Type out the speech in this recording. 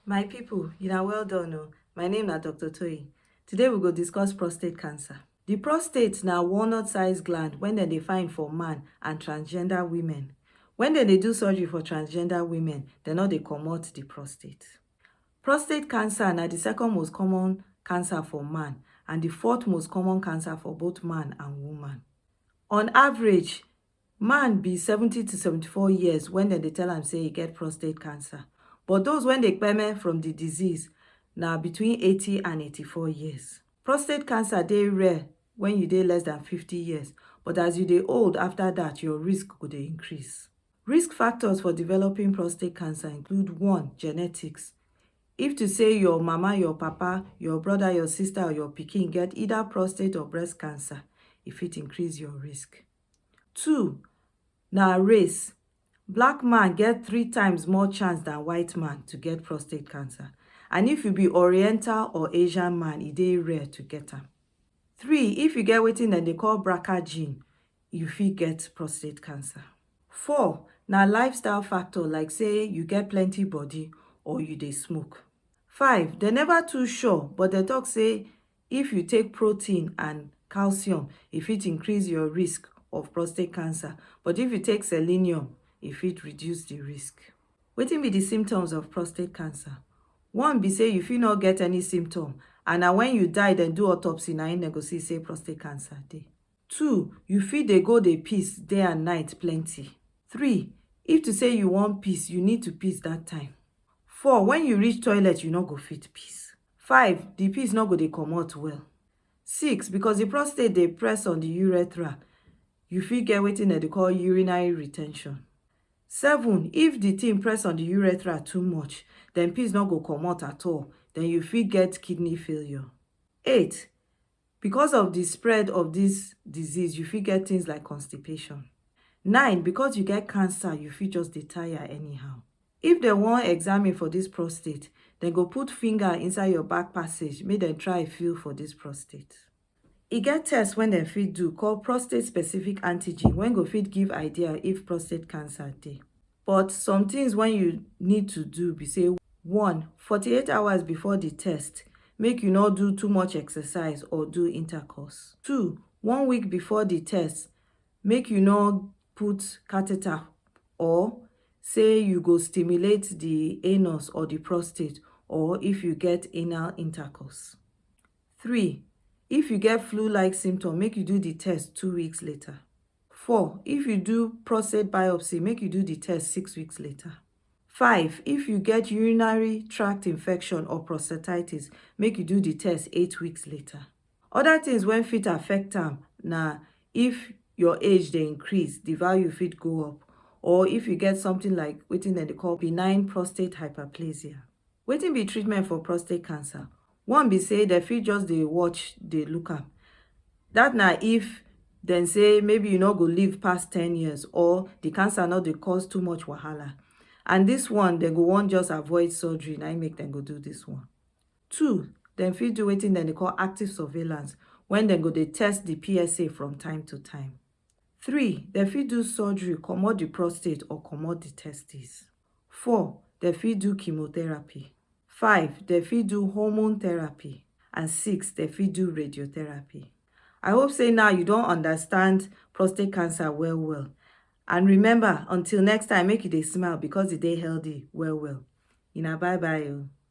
My people, una well done o. My name na Doctor Toyin. Today we go discuss prostate cancer. The prostate na walnut size gland when dem dey find for man and transgender women. When dem dey do surgery for transgender women, dem no dey comot the prostate. Prostate cancer na the second most common cancer for man and the fourth most common cancer for both man and woman. On average, Man be 70 to 74 years wen dem dey tell am say e get prostate cancer, but those wey dey kpeme from di disease na between 80 and 84 years. Prostate cancer dey rare wen you dey less dan 50 years, but as you dey old afta dat, your risk go dey increase. Risk factors for developing prostate cancer include one, Genetics, If to say your mama, your papa, your brother, your sister or your pikin get either prostate or breast cancer, e fit increase your risk. two na race black man get three times more chance dan white man to get prostate cancer and if you be oriental or asian man e dey rare to get am three if you get wetin dem dey call braca gene you fit get prostate cancer four na lifestyle factor like say you get plenty body or you dey smoke five dem never too sure but dem talk say If you take protein and calcium, e fit increase your risk of prostate cancer, but if you take selenium, e fit reduce the risk. Wetin be the symptoms of prostate cancer? One be say you fit not get any symptom and na when you die dem do autopsy na im dem go see say prostate cancer dey. Two, you fit dey go dey piss day and night plenty. Three, if to say you wan piss, you need to piss that time. Four, when you reach toilet, you no go fit piss. five di piss no go dey comot well six because di prostate dey press on di urethra you fit get wetin dem dey call urinary re ten tion seven if di thing press on di urethra too much den piss no go comot at all den you fit get kidney failure eight Because of di spread of dis disease you fit get things like constipation. Nine, because you get cancer you fit just dey tire anyhow. If dem wan examine for dis prostate, dem go put finger inside your back passage make dem try feel for dis prostate. E get test wey dem fit do call prostate specific antigen wey go fit give idea if prostate cancer dey. But some things when you need to do be say one, 48 hours before the test, make you no do too much exercise or do intercourse. Two, one week before the test, make you no put catheter or say you go stimulate the anus or the prostate or if you get anal intercourse. Three, if you get flu-like symptom, make you do the test two weeks later. four if you do prostate biopsy make you do the test six weeks later five if you get urinary tract infection or prostatitis make you do the test eight weeks later other things when fit affect am na if your age dey increase the value fit go up or if you get something like wetin dem dey call benign prostate hyperplasia wetin be treatment for prostate cancer One be say dem fit just dey watch dey look am that na if dem say maybe you no go live pass ten years or the cancer no dey cause too much wahala and this one dem go wan just avoid surgery na im make dem go do this one. Two, dem fit do wetin dem dey call active surveillance when dem go dey test the PSA from time to time. 3 dem fit do surgery comot di prostate or comot di testes 4 dem fit do chemotherapy 5 dem fit do hormone therapy and 6 dem fit do radiotherapy I hope say now you don understand prostate cancer well well and remember until next time make you dey smile because e dey healthy well well una bye bye o.